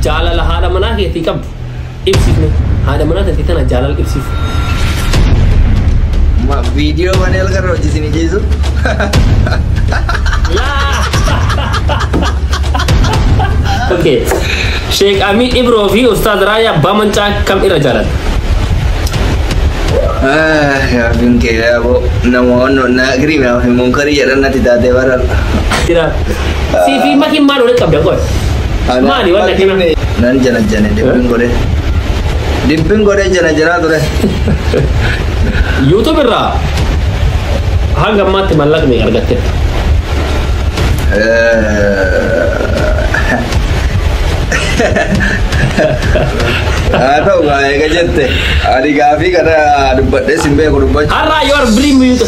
Jaalala haadha manaa keetii qabdu ibsifne. Haadha manaa taatee tana jaalala ibsiif. Ma video mana elga roji sini jisu. Okay. Sheek Amii Ibroo fi Ustaaz Raayyaa abbaa mancaa kam irra jaalatan? Ah, ya bin ke ya bo. Namo no na gri me mun kari ya dan nati date barar. Jira. Sii fi makiin maal walitti qabdan qoy. Maali waan akkana. Nan jana jane dibbin godhe. Dibbin godhe jana janaa ture. YouTube irraa hanga ammaatti mallaqa meeqa argatteetta? Haa ta'u gaa eega jette. Ani gaafii kana dubbadhee sin beeku dubbachuu. Har'aa yoo arbirii miyuuta.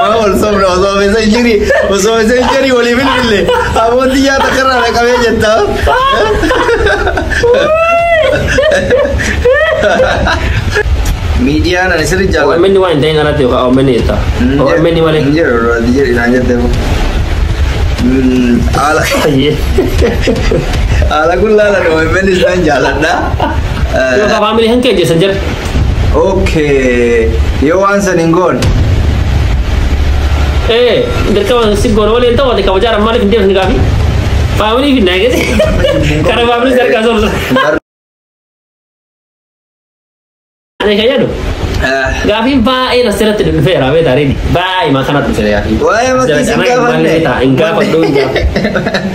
Maa wal sobna osoo messenjeri osoo messenjeri walii bilbille amooti nyaata karraa dhaqabee jetta. Miidiyaan ani sirri jaalladha. OMN waan hin ta'in alatti yookaan OMN jetta. OMN malee. Hin jedhu irraa hin jedhu naan jette. Mm, Haala Fayyee. haala kun laalan OMN isaan jaalladha. Yookaan faamilii hin keenyessan jedhu. Okay. Yoo waan san hin goone. Eh, dirqama si goona waliin ta'u ati kabajaa dhaan maaliif hin deemne gaafi? Faamilii fi naagese. Kara faamilii sarkaa soorsa. Ani kan yaadu gaafiin baay'ee na seeratti dhufeera beeta reedi baay'ee maa kanatti dhufeera gaafiin. Waa'ee makkii sin gaafanne. Hin gaafadhu hin gaafadhu.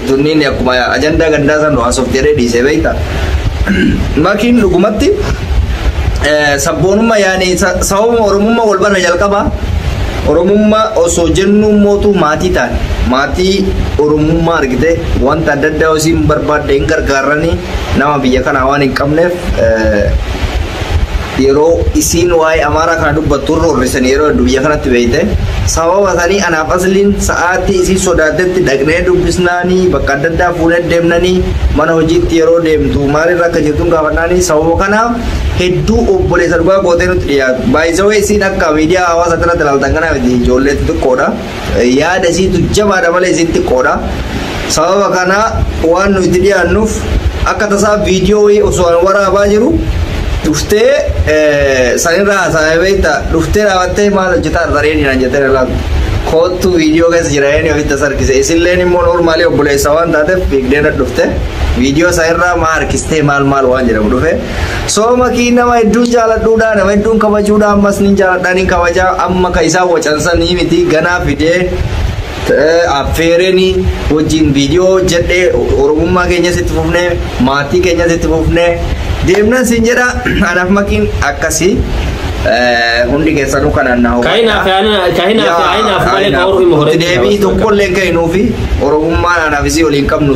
Tunniin akkuma ajandaa gandaa san nu haasofti jedhee dhiisee beekta. Makiin dhugumatti eh, sabboonummaa yaani sa- sababuma oromummaa wal barra jalqaba oromummaa osoo jennuu mootuu maatii taane maatii oromummaa argite wanta adda addaa osii hin barbaadde hin gargaarranii nama biyya kanaa waan hin qabneef eh, yeroo isiin waa'ee amaaraa kana dubbattu roorrisan yeroo heddu biyya kanatti beeyte sababa sanii anaaf asliin sa'aatii isii sodaatetti dhaqnee dubbisnaanii bakka adda addaa fuunee deemnanii mana hojiitti yeroo deemtu maalirra akka jirtuun gaafannaanii sababa kanaaf hedduu obboleessa dhugaa gootee nutti dhiyaatu baay'isawee isiin akka miidiyaa hawaasaa irratti ilaaltan kanaaf ijoollee xixiqqoodha. Yaada isiitu jabaadha malee isiin xiqqoodha. Sababa kana waan nu itti dhiyaannuuf akka tasaa viidiyoo wayii osoo an waraabaa jiru dhuftee sanirraa haasa'e beekta dhuftee dhaabattee maal hojjetaa irra reeni naan jettee na laatu. Koottuu viidiyoo keessa jira reeni ofitti as harkise isilleen immoo noormaalii obboleessa waan taateef fiigdee na dhufte viidiyoo sanirraa maa harkistee maal maal waan jedhamu dhufe. Sooma kii nama hedduun jaaladhuudha nama hedduun kabajuudha ammas nin jaaladha nin kabajaa amma ka isaan wacansanii miti ganaa fidee eh, affeereni wajjin viidiyoo hojjedhe oromummaa keenyas itti fufne maatii keenyas itti fufne deemnan sin jedha anaaf makiin akkasii eh, hundi keessanuu kanaan na hubadha. Kainaaf yaana- kainaaf yaa'inaaf malee ka Oromoo hin horeetti Deebii dabarsu. tokkollee hin kenninuufi oromummaan anaaf isii waliin qabnu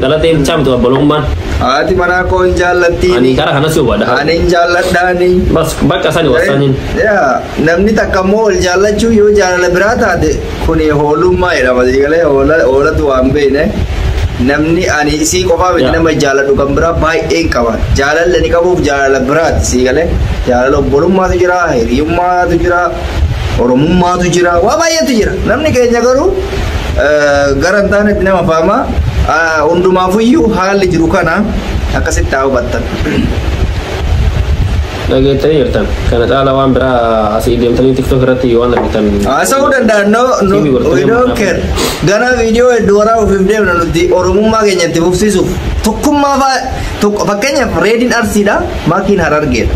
Dhalatee bichaa miti obbolummaan. Haati manaa koo hin jaallattiini. Ani gara kanas hubadha. Ani hin jaalladhaani. Bas bakka sani wassaniin. Yaa namni takka immoo wal jaallachuu yoo jaalala biraa taate kuni hoolummaa jedhama galee hoolatu waan beekne namni ani isii qofaa miti Yaa. nama jaalladhu kan biraa baay'een qaba jaalalli ani qabuuf jaalala biraati sii galee jaalala obbolummaatu jira hiriyummaatu jira oromummaatu jira waa baay'eetu jira namni keenya garuu gara hin taanetti nama faama. Hundumaafuyyuu haalli jiru kana akkasitti haa hubattan. dhageettanii jirtan kana caala waan biraa asii deemtanii tiktok irratti waan argitan Haasa'uu danda'an no, no, Tiivi gortanii we don't manaaf. care. Ganaa viidiyoo hedduu waraabuuf hin deemna nuti oromummaa keenya itti fufsiisuuf. Tokkummaa faa tokko fakkeenyaaf reediin arsiidha. Maakiin harargeedha.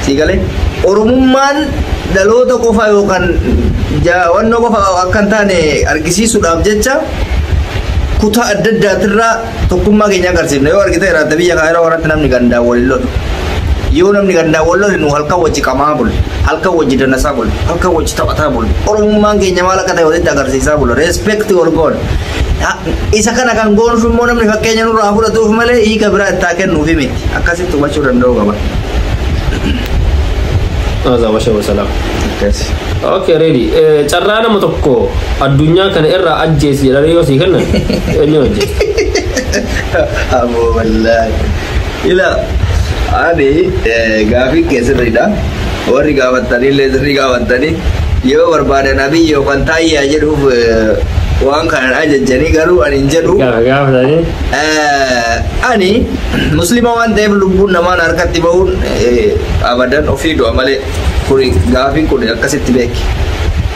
Siigalee Oromummaan dhaloota qofa yookaan jaawannoo qofa akka hin taane argisiisuudhaaf jecha kutaa adda addaatirraa tokkummaa keenya agarsiifna. Yoo argite irraa biyya kana yeroo kanatti namni gandaan waliin lolu. Yoo namni gandaan wal lolu nu halkan wajji qamaa bulu. Halkan wajji danasaa bulu. Halkan wajji taphataa bulu. Oromummaan keenya maal akka ta'e walitti agarsiisaa bulu. Reespeekti wal goona. Isa kana kan goonuf immoo namni fakkeenya nurraa fudhatuuf malee hiika biraa itti haa kennuufi miti. Akkasitti hubachuu danda'uu qaba. Aza washa wasalam. Akkasi. Okay, ready. Eh, Carraa nama tokko addunyaa kana irraa ajjeesi jedhanii yoo sii kennan eenyu ajjeesi? Aboo wallaahi. Ila ani gaafii kee sirriidha. Warri gaafattanii illee sirrii gaafattanii yoo barbaadan abiyyi yookaan taayyaa jedhuuf waan kanan ajajjanii garuu ani hin jedhu. Gaafatanii. Ani muslima waan ta'eef lubbuun namaan harkatti ba'uun abadan ofii du'a malee kuni gaafiin kun akkasitti beeki.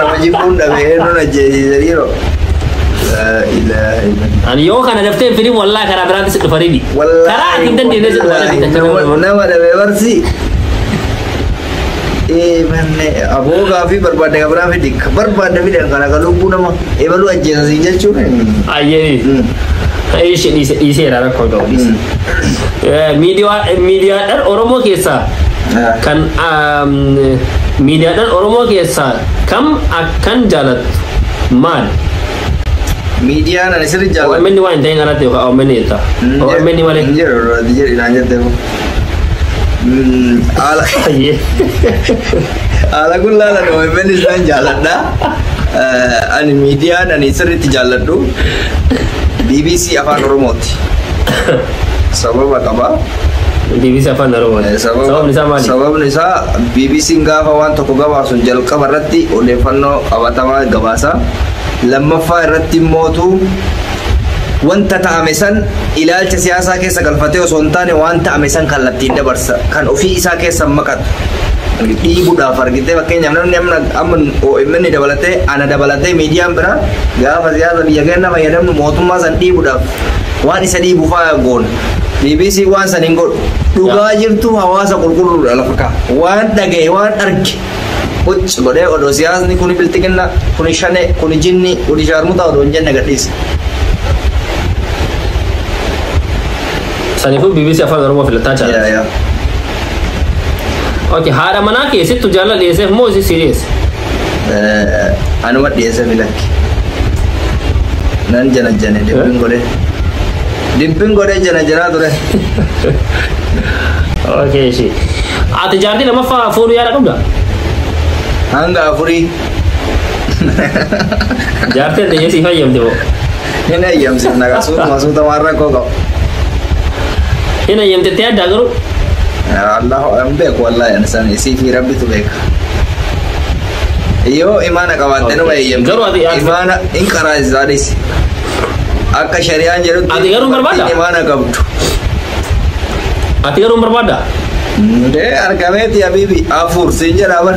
Hojii kun dhabee eenyuun ajjeesiise dhiiroo. Laa ilaaha illallah. Ani yoo kana daftee firii wallaa karaa biraatti si dhufa ribi. Karaa ati hin dandeenye si dhufa ribi. Nama- nama dhabee barsi ee manne aboo gaafii barbaadde kan biraa fidi kan barbaadde fidi kan akka lubbuu nama ebaluu ajjeesa siin jechuun Ayyee. Ishee dhiise dhiiseera rakkoo ta'u. Miidiyaa miidiyaadhaan Oromoo keessaa kan miidiyaadhaan Oromoo keessaa kam akkan jaalattu maal? Miidiyaan ani sirri jaalladhu. OMN waan hin ta'in alatti yookaan OMN jetta. OMN malee. Hin jiru irratti jedhi naan jette kun. Haala Ayyee. haala kun laalan OMN isaan jaalladha. Eh, Ani miidiyaan ani sirriitti jaalladhu. BBC Afaan Oromooti. sababa qaba. Deebisa afaan Oromoo. Eh, sababa- Sababni isaa maali? Sababni isaa BBC'n gaafa waan tokko gabaasun jalqaba irratti odeeffannoo qabatamaa gabaasa. Lammaffaa irratti immootu wanta ta'ame san ilaalcha siyaasaa keessa galfatee osoo hin taane waan ta'ame san kallattiin dabarsa. Kan ofii isaa keessa hin maqatu. Dhiibuudhaaf argitee fakkeenyaaf namni amma amma OMN dabalatee ana dabalatee miidiyaan biraa gaafa siyaasa biyya keenya fayyadamnu mootummaa san dhiibuudhaaf Waan isa dhiibu fa'aa goona. BBC waan san hin godhu. Dhugaa jirtu hawaasa qulqulluudha lafa kaa. Waan dhagaye waan arge. Qucci godhee odoo siyaasni kuni bilxiginna kuni shane kuni jinni kuni shaarmutaa odoo hin jenne gadhiisa. Saniifuu BBC afaan Oromoo filataa Yaa jaalladha. yaa. Okay, haadha manaa kee sittu jaalala dhiyeesseef moo isi siriyeesse? Anuma dhiyeessa filakki. Nan janajjane dibbin godhee. Dibbin godhee janajanaa ture. Okay, ishee. Ati jaartii lamaffaa fuudhuu yaada qabda? Hanga afurii. Jaartii addunyaa siif hayyamte moo? Hin eeyyamsiifna egaa suutuma suuta waan rakkoo qabu. Hin eeyyamtettee addaa garuu. Allahu hin beeku wallaahi ani sana isii fi rabbitu beeka. Yoo imaana qabaatte nama eeyyamte. Garuu ati- ati- Imaana hin qaraasisaa dhisi. Akka shari'aan jedhutti Ati garuu barbaadda? dubartiin imaana qabdu. Ati garuu hin barbaaddaa? Dee argameeti habiibi afur siin jedhaa bar.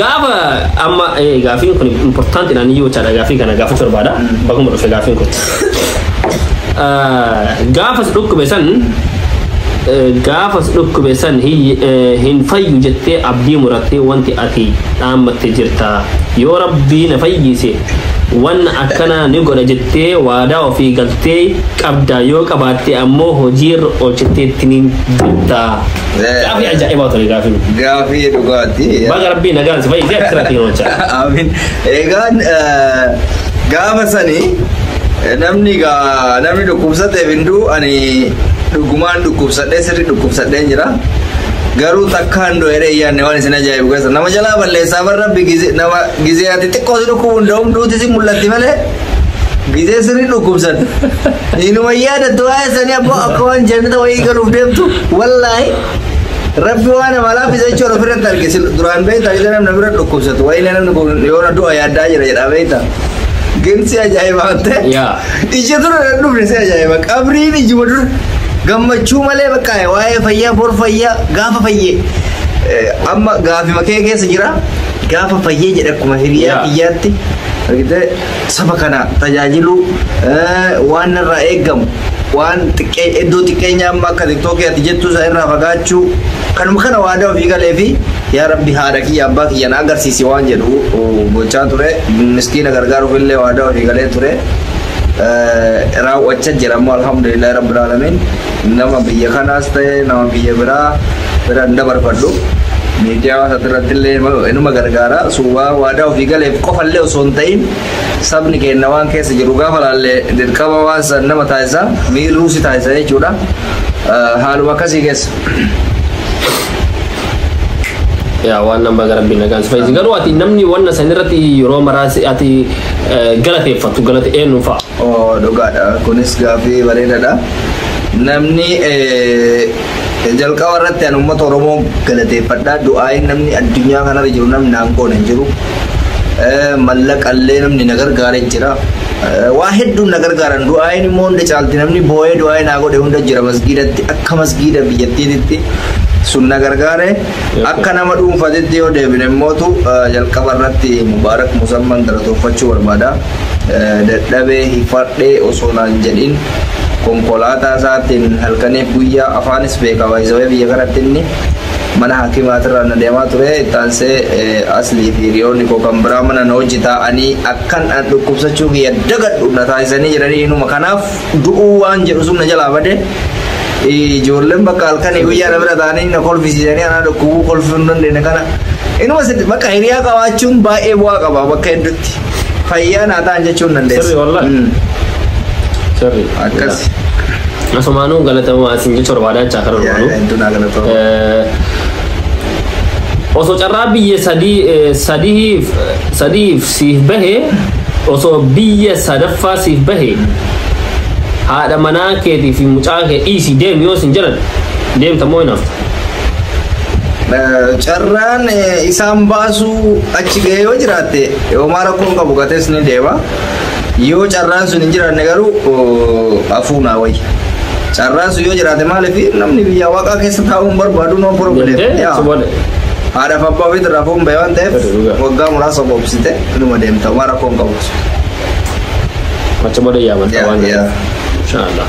Gaafa amma eh, gaafiin kun importanti naan iyyuu jechaadha gaafii kana gaafachuu barbaada baguma dhufe gaafiin kun. Ah, Gaafa si dhukkube san eh, gaafa si dhukkube san hin- eh, hin fayyu jettee abdii murattee wanti ati dhaammatte jirta yoo rabbii na fayyise waan akkanaa ni godha jettee waadaa ofii galtee qabda yoo qabaatte ammoo hojiirra oolchitteetti ni jirta. Gaafii ajaa'ibaa ture gaafii miti. Gaafii dhugaati. Baga rabbii nagaan si fayyisee akkirratti yeroo jechaa. Amin. Egaan eh, gaafa sani eh, namni gaa namni dhukkubsateef hin du'u ani dhugumaan dhukkubsadhee sirri dhukkubsadheen jira. Garuu takkaan du'eera iyyaanne waan isin ajaa'ibu keessa nama jalaa balleessaa bar rabbi gize- nama gizee ati xiqqoo si dhukkubu hin da'um duuti si mul'atti malee Gizee sirrii dhukkubsan. Inuma yaadattu waa'ee sanii abboo akka waan jannata wayii galuuf deemtu wallaahi. Rabbi waan amalaa fi jechuun ofirratti argisiis duraan beektaa isa namni bira dhukkubsatu wayii namni kun yoona du'a yaaddaa jira jedhaa beektaa. Gimsi ajaa'ibaa ta'e. Yaa. Ija dura na dhufne si ajaa'iba. Qabriin ijuma dura gammachuu malee bakka waa'ee fayyaa bor fayyaa gaafa fayyee. Eh, Amma gaafima kee keessa jira. Gaafa fayyee jedha akkuma hiriyaa Yaa. biyyaatti. argitee saba kana tajaajiluu eh, waan narraa eegamu waan xiqqee iddoo xiqqeenya amma akka tiktookii ati jettuu isaa irraa fagaachuu kanuma kana waadaa ofii galee fi yaa rabbi haadha kiyya abbaa kiyya na agarsiisi waan jedhu oh, gochaa ture miskiina gargaaruuf illee waadaa ofii galee ture Eh, raawwachaa jira ammoo alhamdulillah rabbil alamin nama biyya kanaas ta'e nama biyya biraa Bira hin dabarfadhu. Miidiyaa waan irratti illee inuma gargaara. Suuwaa waadaa ofii galeef qofa illee osoo hin ta'in sabni keenya waan keessa jiru gaafa laallee dirqama waan san nama taasisa. Miirruu si taasisa jechuudha. Haaluma akkasii keessa. yaa waan nan baga rabbiin nagaan si fayyise garuu ati namni wanna san irratti yeroo maraas ati galateeffattu galate eenyu fa'a Oo dhugaadha. Kunis gaaffii bareedaadha. Namni Jalqaba irratti ani uummata Oromoo galateeffadha. Du'aayin namni addunyaa kanarra jiru namni naan goone hin jiru. Mallaqallee namni na gargaare jira. Waa hedduun na gargaaran du'aayin immoo hunda caalti namni boo'ee du'aayi naa godhe hunda jira masgiidatti akka masgiida biyyattiititti sun na gargaare akka nama dhuunfatitti yoo deebine immootu jalqaba irratti mubaarak musamman galatoofachuu barbaada. Dadhabee hifadhee osoo naan jedhin konkolaataa isaatiin halkaniif guyyaa afaanis beeka baay'isawee biyya kanatti inni mana haakimaatirraa na deemaa ture taansee aslii fi hiriyoonni koo kan biraa mana na hojii taa'anii akkan an dhukkubsachuu kiyya dagadhu na taasisanii jiranii inuma kanaaf du'uu waan jedhu sun na jalaa bade ijoolleen bakka halkanii guyyaa na bira taa'anii na kolfisiisanii anaa dhukkubuu kolfuu hin dandeenye kana inuma bakka hiriyaa qabaachuun baay'ee bu'aa qaba bakka hedduutti. Fayyaa naa ta'an jechuun Sirri dandeessa. wallahi. Mm, Sirri. Akkas. Asumaanuu galatamu asin jechuun barbaadaa jechaa karaa Yaa, dhumaanuu. hedduu naa galatoomi. Eh, osoo carraa biyya sadii eh, sadiif sadiif siif bahe osoo biyya sadaffaa siif bahe haadha manaa keetii fi mucaa kee dhiisii deemi yoo isin jedhan deemta moo hin hafta Carraan isaan baasuu achi ga'ee yoo jiraatte homaa rakkoon qabu gatees ni deema. Yoo carraan sun hin jiraanne garuu afuunaa wayya. Carraan sun yoo jiraate maaliif namni biyya waaqaa keessa taa'uun barbaadu noo problem. Haadhaaf abbaa ofiitti irraa fuun ba'e waan ta'eef waggaa muraasa boobsite inuma deemta homaa rakkoon qabu. Achi booda yaaman waan ta'eef. Inshallah.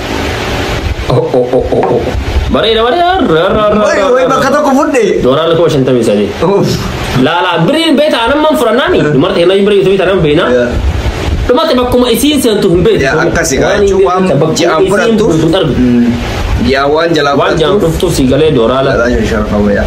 Bareeda bareeda. Wai bakka tokko fudhe. Doolaarri kuma shantamii sadii. Laalaa biriin beeta anamman fudhannaani. Dumarti hennaa birii yuutubii tanan beena. Dumarti bakkuma isiin seentu hin beetu. Yaa akkasi gaa jechuun waan ji'aan fudhattuuf. Yaa waan jalaa Waan jaan fudhattuuf. dhuftu si galee doolaara. Yaa sharfama yaa.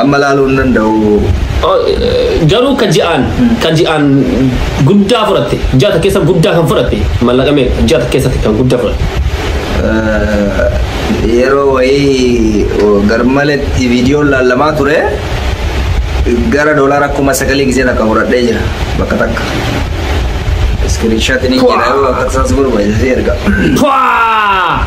Amma laaluu hin danda'u. Oh, eh, Garuu ka ji'aan ka ji'aan guddaa fudhatte ji'a takka keessa guddaa kan fudhatte mallaqa meeqa ji'a takka keessatti kan guddaa fudhatte. Eh, Yeroo wayii oh, garmaletti viidiyoon laallamaa ture gara doolaara kuma sagalii gisee takka fudhadhee jira bakka takka. Iskiriinshaatiin hin jira yoo bakka isaas barbaachisa erga. Pwaa!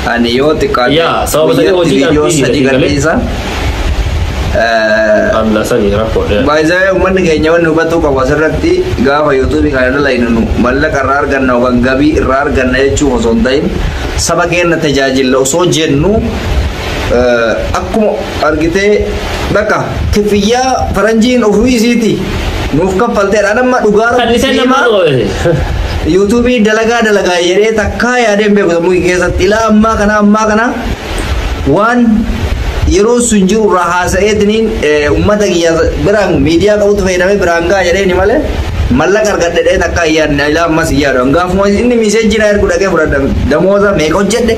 Ani yoo xiqqaate Yaa, sababa sanii guyyatti hojii viidiyoo dhabbii sadii jedhanii gadhiisa. Eh, Anna sani rakkoo dheera. Baay'ee uummanni keenya wanni hubatuu qabu asirratti gaafa yuutuubii kana dalainu nu mallaqa irraa arganna yookaan gabii irraa arganna jechuuf osoo hin ta'in saba keenya tajaajilla osoo jennu eh, akkuma argitee bakka kifiyyaa faranjiin ofii isiiti nuuf kaffalteedha anamma dhugaa rabbii Kadhisen sii nama himaa dhoobe. yuutuubii dalagaa dalagaa jedhee takkaa yaadeen beeku sammuu kee keessatti ilaa ammaa kana ammaa kana waan yeroo sun jiru irraa haasa'eetiniin eh, ummata kiyya biraan miidiyaa qabutu fayyadamee biraan ga'a jedheeni malee mallaqa argadhe jedhee takkaa hin yaadne ilaa ammas hin yaadu gaafuma inni miisee jira ergu dhaqee fudhadha damooza meeqa hojjedhe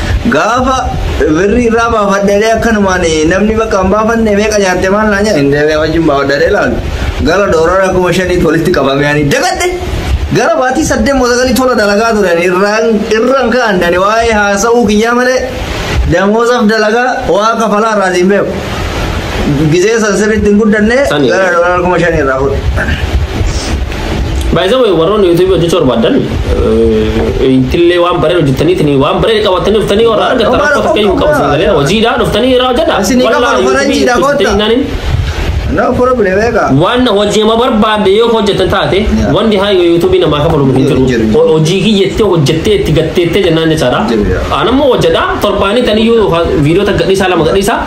Gaafa birrii irraa baafadheelee akkanumaan namni bakka hin baafanne meeqa nyaatte maal naa nyaa hin deebi'ee wajjin baafadheelee ilaalu. Gara doorara kuma shaniitti walitti qabame ani dagadhe. Gara baatii saddeet moo sagalii tola dalagaa ture ani irraan irraan ka'an dani waa'ee haasa'uu kiyyaa malee damoosaaf dalagaa waa kafalaa irraa siin beeku. Gizee san sirriitti hin guddanne Sani. gara doorara kuma shanii irraa fudhe. By the way, warroonni YouTube hojjechuu barbaadan ittillee waan bareedu hojjetaniitiin waan bareedu qabatanii dhuftanii warra argatan Dhugaa rakkoo tokko hin qabu dhugaa. sagalee hojiidhaa dhuftanii irraa hojjeta. Isin hin qabaru, faranjiidha, kottaa. No problem eega. Waan hojiima barbaadde yoo hojjetan taate Yeah. wanti haayyo YouTube namaa kafalu hin Jiru, jiru. jiru. Ho- Hojii kiyyetti hojjettee itti gatteettee jennaan jechaadha. Jiru, yeah. Aan ammoo hojjedha torbaanii taniyyuu viidiyoo takka gadhiisaa lama gadhiisaa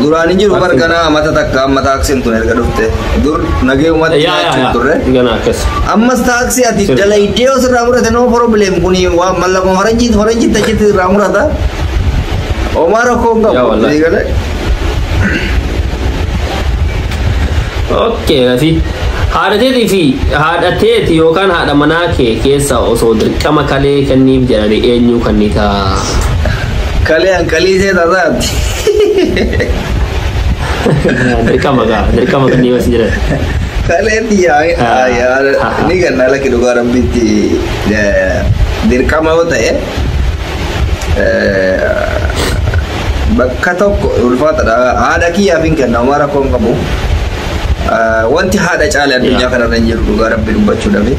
Duraan hin jiru bar ganaa amata takka amma taaksiin tun erga dhufte. Dur nagee uumatti Yaa yaa nyaachuun yaa. turre. Ganaa akkas. Ammas taaksii ati Sirri. dalaydee osoo irraa murate noo problem kuni waan mallaqa faranjiit faranjiit achitti irraa murata. Omaa rakkoo hin Yaa qabu. wallahi. Sii galee. Okay, Rafi. Haadha teetii fi haadha teeti yookaan haadha manaa kee keessa osoo dirqama kalee kenniif jedhani eenyuu kannitaa? Kalee an qalii see tasaati. Dirqama gaa dirqama kannii mas jiran. Kalee tiyyaa Ah, yaa- ah, ah. ni ganna lakki dhugaa rabbitti eh, dirqama yoo ta'e eh, bakka tokko ulfaatadha. Haadha kiyyaaf hin kenna homaa rakkoon qabu. Ah, Wanti haadha caale addunyaa kanarra hin jiru dhugaa rabbi dubbachuu dhabe.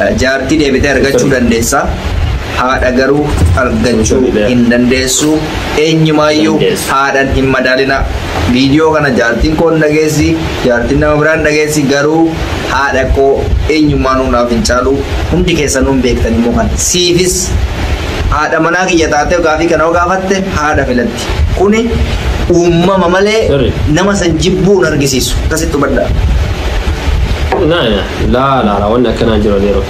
Ah, Jaartii deebitee argachuu dandeessa. Haadha garuu argachuu hin dandeessu. Eenyumaayyuu Dandeessu. haadhan hin madaalina. Viidiyoo kana jaartiin koo hin dhageessi, jaartiin nama biraa hin dhageessi garuu haadha koo eenyummaan hundaaf hin caalu. Hundi keessanuu hin beektan immoo kana. Siifis haadha manaa kiyya taatee gaafii kana yoo gaafatte haadha filatti. Kuni uumama malee Sirri. nama san jibbuu hin argisiisu. Akkasitti hubadhaa. Naa yaa laa laa laa wanni akkanaa jira yeroo.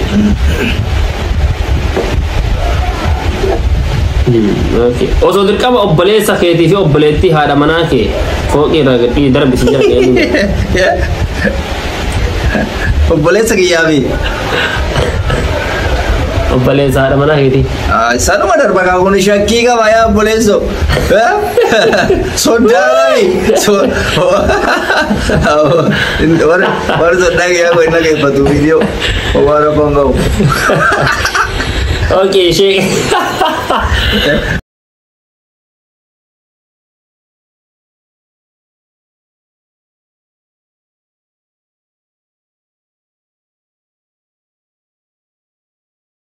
Okay. Osoo dirqama obboleessa keetii fi obboleettii haadha manaa kee fooqii irraa gadhii darbisi jira deemuu. Obboleessa kiyyaa fi Obboleessa haadha manaa keetii. Sanuma darba kaa kun shakkii qaba yaa obboleesso. Soddaa mali. Warri soddaa kiyyaa kun hin dhageeffatu viidiyoo. Waan rakkoon qabu. Okay, shake.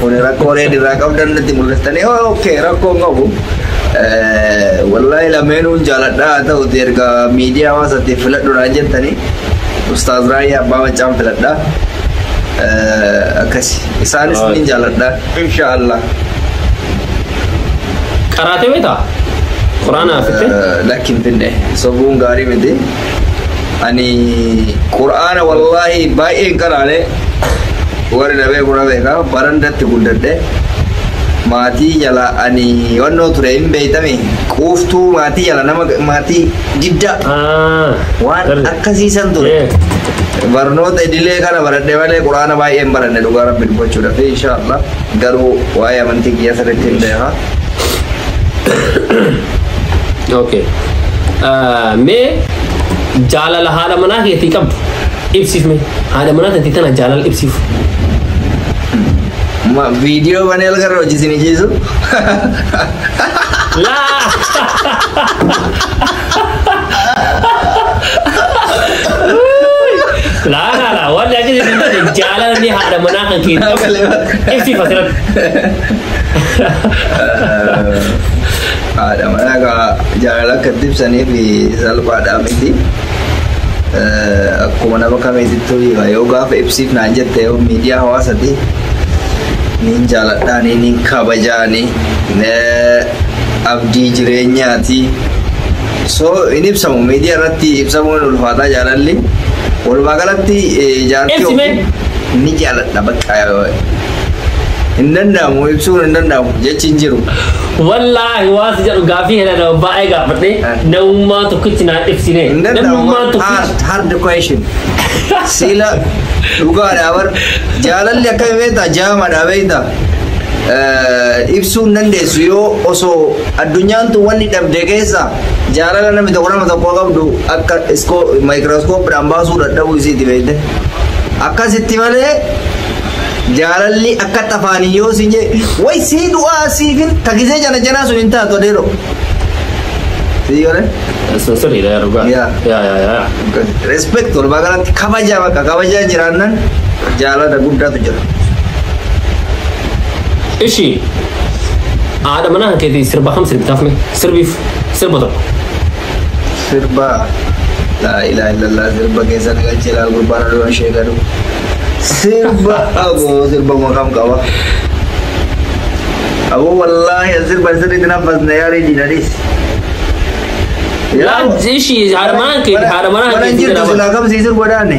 Kun rakkoo reed irraa qabdan natti mul'istanii ookee rakkoo hin qabu. Wallaahi lameenuun jaaladha haa ta'uti erga miidiyaa hawaasatti filadhuudhaan jettanii Ustaaz Raayyaa Abbaa Maccaan filadha. Akkasi isaanis ni jaaladha inshaallah. Qaraatee beektaa? Quraanaa fittee? Lakki hin finne sobuun gaarii miti. ani qur'aana wallaahi baay'ee hin qaraane warri na beeku na beeka barandatti guddadhe maatii jala ani wannoo ture hin beeytame quuftuu maatii jala nama maatii diddaa Ah. waan Darbe. akkasiisan ture Eh. barnoota idilee kana baradhe malee qur'aana baay'ee hin baranne dhugaa rabbi dubbachuudhaaf inshaallah Garuu waa'ee amantii kiyya sirriitti hin beekaa. Okay. Ah, Mee jaalala haadha manaa keetii qabdu ibsiif mee haadha manaa keetii tana jaalala ibsiif. Ma viidiyoo banee algarra hojii isin ijjiisu. Laa! Laa laa laa waan jaajin isin tane jaalala ni haadha manaa kan keenya. Ibsi fasirratti. Haadha manaa kaa jaalala akka itti ibsaniif salphaadhaa miti. Akkuma nama kamiitittuu hiika yoo gaafa ibsiif naan jette yoo miidiyaa hawaasati niin jaaladhaanii niin kabajaanii abdii jireenyaati. So hin ibsamu miidiyaa irratti ibsamuun ulfaataa jaalalli. Walumaa galatti eh, jaartii Ibsi mee? ofii ni jaaladha bakka hin danda'amu ibsuun hin danda'amu jechi hin jiru. Wallaahi waan si jedhu gaafii hela nama baay'ee gaafadhe Eh. namummaa tokkitti naa ibsine Hin danda'amu namummaa hard tokkitti hard question. Siila dhugaadhaa bar jaalalli akkami beektaa jaamaadhaa beektaa. ibsuu hin dandeessu yoo osoo addunyaan tun wanni dhabde keessa jaalala namni tokko nama tokko qabdu akka maayikirooskooppiidhaan baasuu dadhabuu isiiti beekte. Akkasitti malee jaalalli akka tafaanii yoo si jee way sii du'aa siifin takisee jana janaa sun hin taatu adeero. Sii yoo Sirriidha yaa dhugaa. Yaa. Yaa yaa yaa. Respect walumaa galatti kabaja bakka kabajaa jiraannan jaalala guddaatu jira. Ishi haadha manaa kan keetii sirba kam sirbitaaf mee sirbiif sirba tokko. sirba laa ilaa illallah sirba keessa na galchee laal gurbaan aduu ishee gadu sirba aboo sirba maqaan qaba aboo wallaahi an sirba sirriitti naffasne yaarii diinadhiis Laal ishi haadha manaa keetii haadha manaa keetii jirtu jedhama. silaa kamsii sirba daane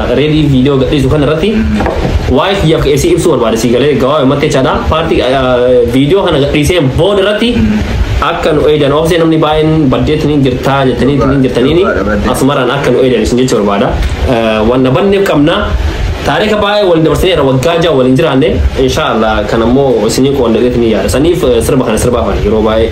Reedii viidiyoo gadhiisu kana irratti waa'ee kiyyaaf ka'ee si ibsuu barbaade si galee gawaabee mattee chaadha. Paartii viidiyoo kana gadhiiseen booda irratti akka nu eedan oofisee namni baay'een baddeetti ni jirtaa jettanii ni jirtaniini asumaraan akka nu eedan isin jechuu barbaada. Wanna banneef qabna. Taarika baay'ee waliin dabarsinee irra waggaa ja'a waliin jiraanne inshaallah kan ammoo isinii qoondateetti ni yaada. Saniif sirba kana sirbaafan yeroo baay'ee.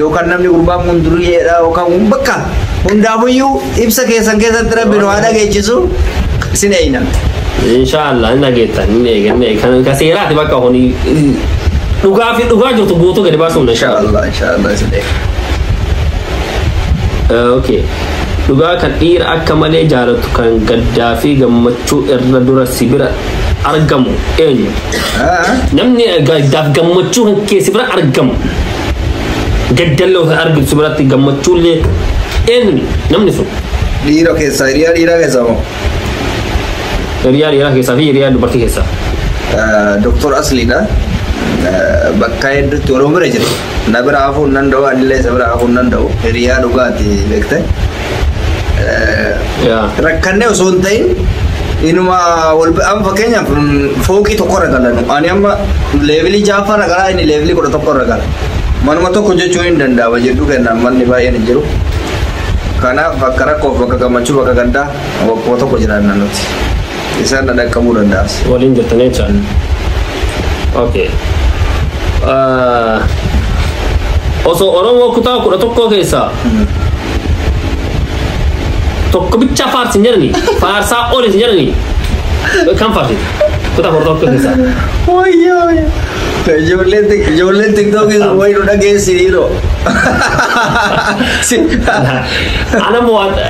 yookaan namni gurbaan kun duriyyeedha yookaan kun bakka hundaafuyyuu ibsa keessan keessatti rabbi nu haa dhageechisu sin eeyna. Inshaallah hin dhageettan hin eegan kan ka seeraati bakka kun dhugaa fi dhugaa jirtu guutuu gadi baasuun inshaallah. Inshaallah inshaallah sin eeyna. Okay. Dhugaa kan dhiira akka malee jaalatu kan gaddaa fi gammachuu irra dura si bira argamu eenyu? Namni gaddaaf gammachuu kan keessi bira argamu. Gaddallee ofii argitu si biratti gammachuullee eenyu namni sun? Dhiira keessaa hiriyaa dhiiraa keessaa moo? Hiriyaa dhiiraa keessaa fi hiriyaa dubartii keessaa. Doktor Asliidha. Bakka hedduutti Oromoo bira jira. Na bira hafuu hin danda'u anillee isa bira hafuu hin danda'u hiriyaa dhugaati beekte. Yaa. Rakkannee osoo hin ta'in inuma wal amma fakkeenyaaf mm, fooqii tokko irra galan ani amma leevilii jaaffaa irra galaa inni leevilii kudha tokko irra gala. Manuma tokko jechuun hin danda'ama jedhu kennaan manni baay'een hin jiru. Kanaaf bakka rakkoof bakka gammachuu bakka gaddaa bakkuma tokko jiraanna nuti. isaan na dhaqqabuu danda'as. waliin jirtanii jechaadha. Okay. Ah, Osoo Oromoo kutaa kudha tokkoo keessaa tokko bichaa faarsin jedhani faarsaa olis jedhani kan faarsita kutaa kudha tokkoo keessaa. Wayyoo ijoolleen tik- ijoolleen tiktookii sun wayii nu dhageessiniiroo. Ana mo'adha.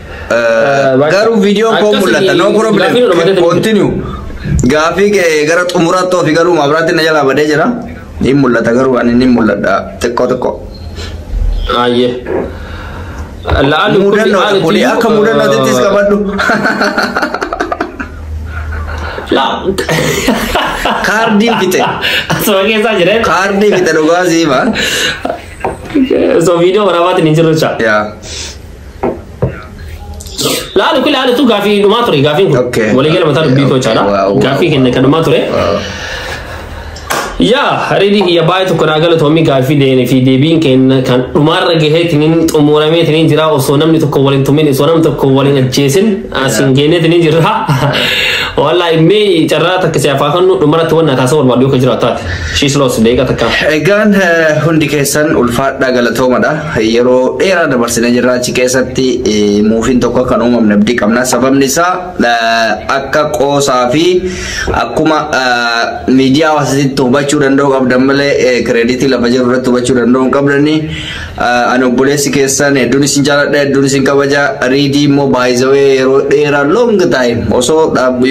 Garuu viidiyoon koo mul'ata. No problem. Continue. Gaafii kee gara xumuraatti ofii galuu maabiraatti na jalaa badee jira. Ni mul'ata garuu ani ni mul'adha xiqqoo xiqqoo. Aayye. La'aan Mudannoodha kuni akka mudannootitti qabadhu. Kaardii fite. Asuma keessaa jira. Kaardii fite dhugaa siima. So viidiyoo waraabaatiin hin jirre jecha. Yaa. Laalu kun laalu tun gaafii dhumaa ture gaafiin kun. Okay. Walii gala mataa dubbii koo caala. Wow, wow. Gaafii kenna kan dhumaa ture. Yaa ridi kiyya baay'ee tokko naa galatoomii gaaffii deene fi deebiin kenna kan dhumaarra gahee tiniin xumuramee tiniin jira osoo namni tokko waliin tumin osoo namni tokko waliin ajjeesin asiin geenee tiniin jirra. Wallaahi mee carraa takka si afaa kannu dhumarratti wanna taasisa barbaadu yoo ka jiraatu taate. Shiis loos deeqa takka. Egaan eh, hundi keessan ulfaadhaa galatoomadha. Yeroo dheeraa dabarsinee jirra achi keessatti muufiin tokko akka hin uumamne abdii qabna. Sababni isaa akka qoosaa fi akkuma miidiyaa hawaasatti hubachuu danda'u qabdan malee kireeditii lafa jiru irratti hubachuu danda'u hin qabdani. Ani obboleessi keessan hedduun isin jaaladha hedduun isin kabaja. Riidii immoo baay'isawee yeroo dheeraa long time osoo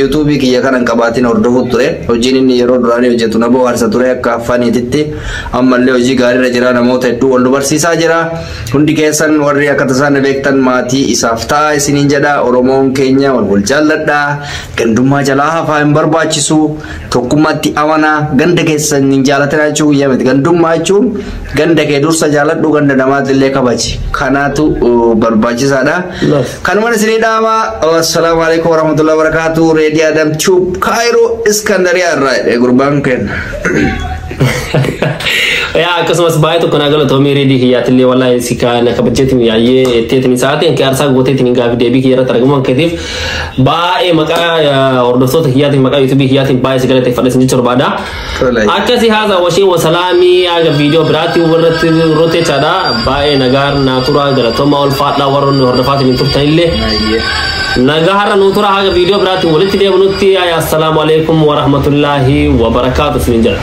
yuutuubii kiyya kana hin qabaatiin hordofuutu ture. Hojiin inni yeroo duraanii hojjetu na bohaarsa ture akka faniititti. Ammallee hojii gaariirra jira namoota hedduu wal nu barsiisaa jira. Hundi keessan warri akka tasaa na beektan maatii isaaf ta'a isiniin jedha. Oromoon keenya wal wal jaalladha. Gandummaa jalaa hafaa hin barbaachisu. Tokkummaatti amanaa ganda keessan hin jaalatina jechuu guyyaa miti. Gandummaa jechuun ganda kee dursa jaaladhu ganda namaatillee kabaji. Kanaatu uh, barbaachisaadha. Love. Kanumaan isinii dhaama. Assalaamu alaikum warahmatullahi wabarakatuh. Reedii Adam Tube Kaayiroo Iskandariyaa irraa jedhe gurbaan keenya. yaa akkasumas baay'ee tokko naa galatoomii reedii kiyyaatillee walaa si kaana kabajeetiin yaayyee etteetiin sa'aatiin kee arsaa gooteetiin gaafi deebii kiyya irratti argamuun keetiif baay'ee maqaa eh, hordoftoota kiyyaatiin maqaa yuutuubii kiyyaatiin baay'ee si galateeffadha isin jechuun barbaada. Tolai. Akkasii haasaa washee wasalaamii haga viidiyoo biraatti warratti roteechaadha baay'ee nagaan naa turaa galatoomaa ulfaadhaa warroonni hordofaatiin hin turtanillee. Baay'ee. Nagaa har'a nuu tura haga viidiyoo biraatti walitti deebinutti assalaamu alaikum warahmatullaahi wabarakaatu isinin jedha.